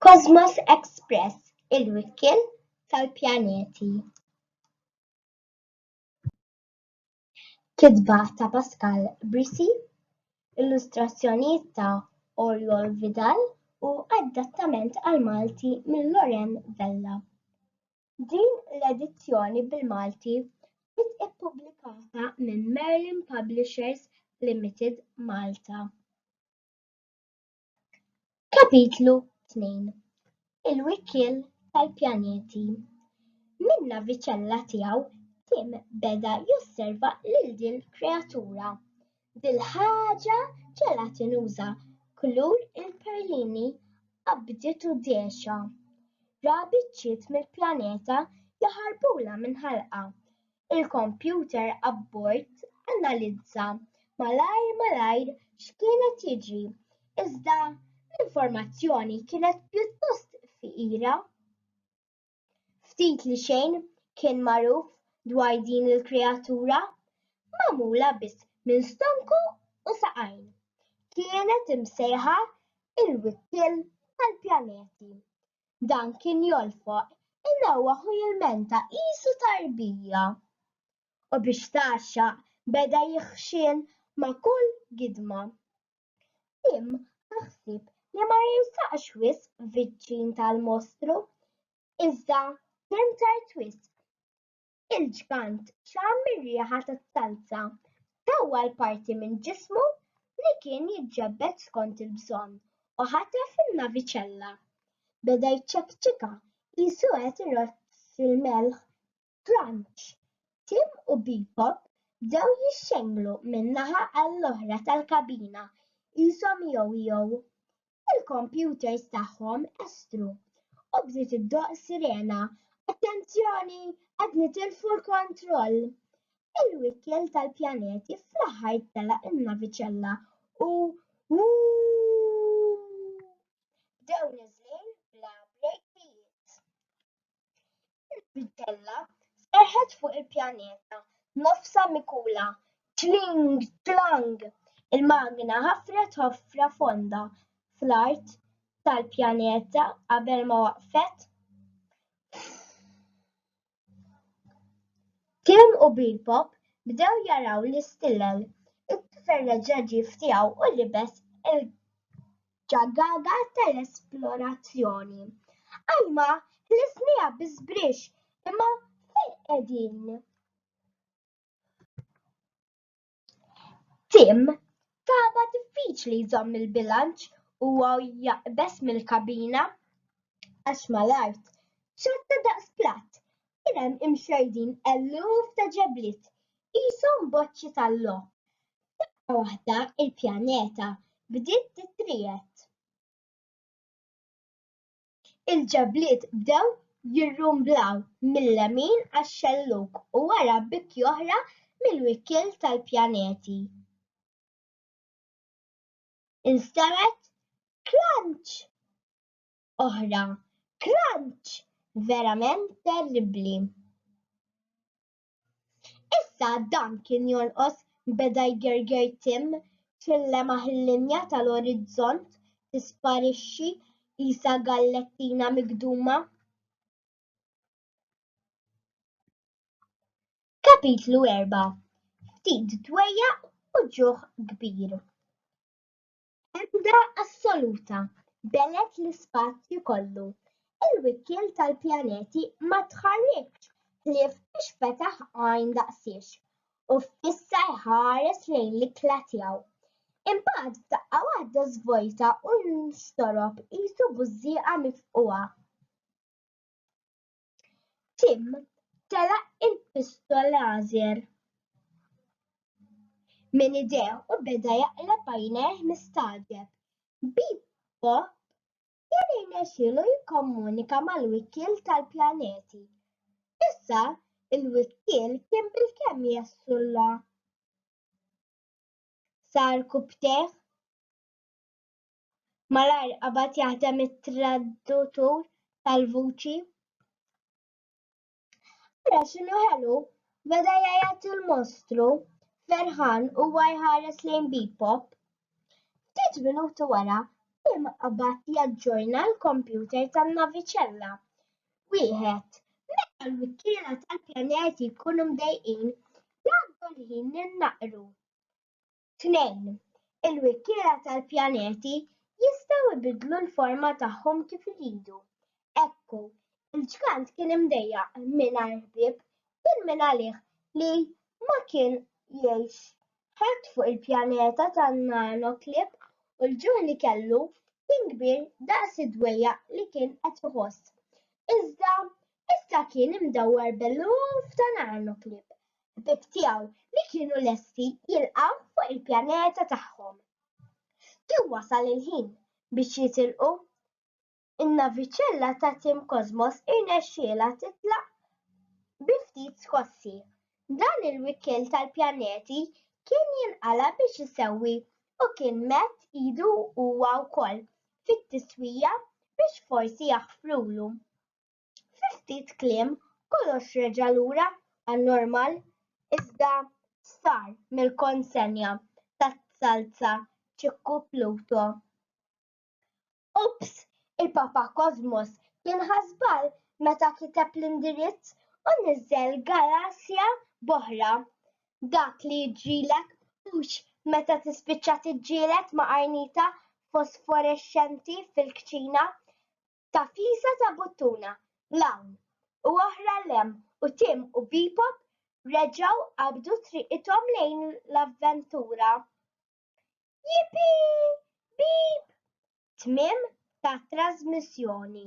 Cosmos Express, il-wikien tal-pjaneti. Kitba ta' Pascal Brisi, illustrazzjonijiet ta' Oriol Vidal u adattament għal Malti minn Loren Vella. Din l-edizzjoni bil-Malti ġiet ippubblikata minn Merlin Publishers Limited Malta. Kapitlu 2 Il-Wikkiel tal-Pjaneti Minn naviċella tiegħu Tim beda josserva lil din il-kreatura Dil-ħaġa ġela tinuża kulur il-perlini qabdiet u dehxa. Ra biċċiet mill-planeta jaħarbulha minn ħalqha. Il-kompjuter abbord analizza malajr malajr x'kien qed jiġri iżda l-informazzjoni kienet pjuttost fqira. Ftit li xejn kien magħruf dwar din il-kreatura magħmula biss minn stonku u saqajn. Kienet imsejħa il-wikkiel tal-pjaneti. Dan kien jolfoq inewwaħ u jilmenta qisu tarbija. U biex tgħaxxaq beda jixħxin ma' kull gidma. Tim ħa ħsieb li ma jinsaqx wisq viċċin tal-mostru, iżda kien tard wisq. Il-ġgant xamm ir-riħa tat-talza, tawwa l-parti minn ġismu li kien jiġġebbed skont il-bżonn u ħatef in-naviċella. Beda jċekċika qisu qed iroċċ fil-melħ Grunge, Tim u Bebop bdew jixxenglu minn naħa għall-oħra tal-kabina qishom ijow-ijow. Il-kompjuters tagħhom estru, u bdiet iddoqq sirena, Attenzjoni, qed nitilfu l-kontroll! Il-wikkiel tal-pjaneti fl-aħħar telaq in-naviċella u Whoo! bdew niżlin bla brejkijiet. Il-bidella serħet fuq il-pjaneta, nofsha mikula. Tling! Tlang! Il-magna ħafret ħofra fonda fl-art tal-pjaneta qabel ma waqfet. Tim u Bebop bdew jaraw l-istilel. It-tifel reġa' ġie f'tiegħu u libes il ġagaga tal-esplorazzjoni. Alma ħlisniha bi sbrix imma fejn qegħdin? Tim taba diffiċli jżomm il-bilanċ u jaqbeż mill-kabina għax mal-art ċatta daqs platt kien hemm imxerrdin eluf ta' ġebliet, qishom boċċi tal-logħob. Daqqa waħda l-pjaneta bdiet titriegħed. Il-ġebliet bdew jirrumblaw mil-lemin għax-xellug u wara bikki oħra mill-wikkiel tal-pjaneti. Instemgħet klanċ! oħra. Crunch! Verament terribbli. Issa dan kien jonqos beda jgerger Tim ċillema ħil-linja tal-orizzont tisparixxi qisha gallettina migduma. Kapitlu 4 Ftit dwejjaq u ġuħ kbir. Emenda assoluta, b'għelet l-ispazju kollu, il-wikkiel tal-pjaneti ma tħarrikx ħlief biex fetaħ għajn daqsiex u fissa jħares lejn l-ikla tiegħu. Imbagħad f'daqqa waħda żvojta u nxtorob qisu bużżieqa mifqugħa. Tim telaq il-pistol lażer minn idejh u beda jaqleb għajnejh mistagħġeb. Bebop kien irnexxielu jikkomunika mal-wikkiel tal-pjaneti. Issa, il-wikkiel kien bilkemm jessulla. Sar kubtejh. Malajr qabad jaħdem it-traddutur tal-vuċi. Ara x'inhu ħelu, beda jgħajjat il-mostru, ferħan huwa jħares lejn Bebop. Ftit minuti wara, Tim qabad jaġġorna l-kompjuter tan-naviċella. Wieħed, meta l-wikkiela tal-pjaneti jkunu mdejqin, jgħaddu l-ħin li naqru. 2. Il-wikkiela tal-pjaneti jistgħu jbiddlu l-forma tagħhom kif iridu. Ekku, il-ġgant kien imdejjaq mingħajr ħbieb bil-min għalih li ma kien jgħix ħadd fuq il-pjaneta tan-nanoklib u l-ġuħ li kellu kien kbir daqs id-dwejjaq li kien qed iħoss. Iżda issa kien imdawwar b'eluf ta' nanoklib. ħbieb tiegħu li kienu lesti jilqgħu fuq il-pjaneta tagħhom. Kien wasal il-ħin biex jitilqu. In-naviċella ta' Tim Cosmos irnexxielha titlaq bi ftit skossi. Dan il-wikkel tal-pjaneti kien jinqala biex isewwi u kien mett idu huwa wkoll fit-tiswija biex forsi jaħfrulu. Fi ftit kliem kollox reġa' lura għan-normal iżda sar mill-konsenja taz-zalza Ċikku Pluto. Ups, il-Papa Kosmos kien ħa żball meta kiteb l-indirizz u niżżel galassja b'oħra. Dak li jiġrilek hux meta tispiċċa tiġġieled ma' qarnita fosforexxenti fil-kċina Tafjisa ta' buttuna bl-hawn u oħra 'l hemm u Tim u Bebop reġgħu qabdu triqithom lejn l-avventura. Yippee! Beep! Tmiem tat-trażmissjoni.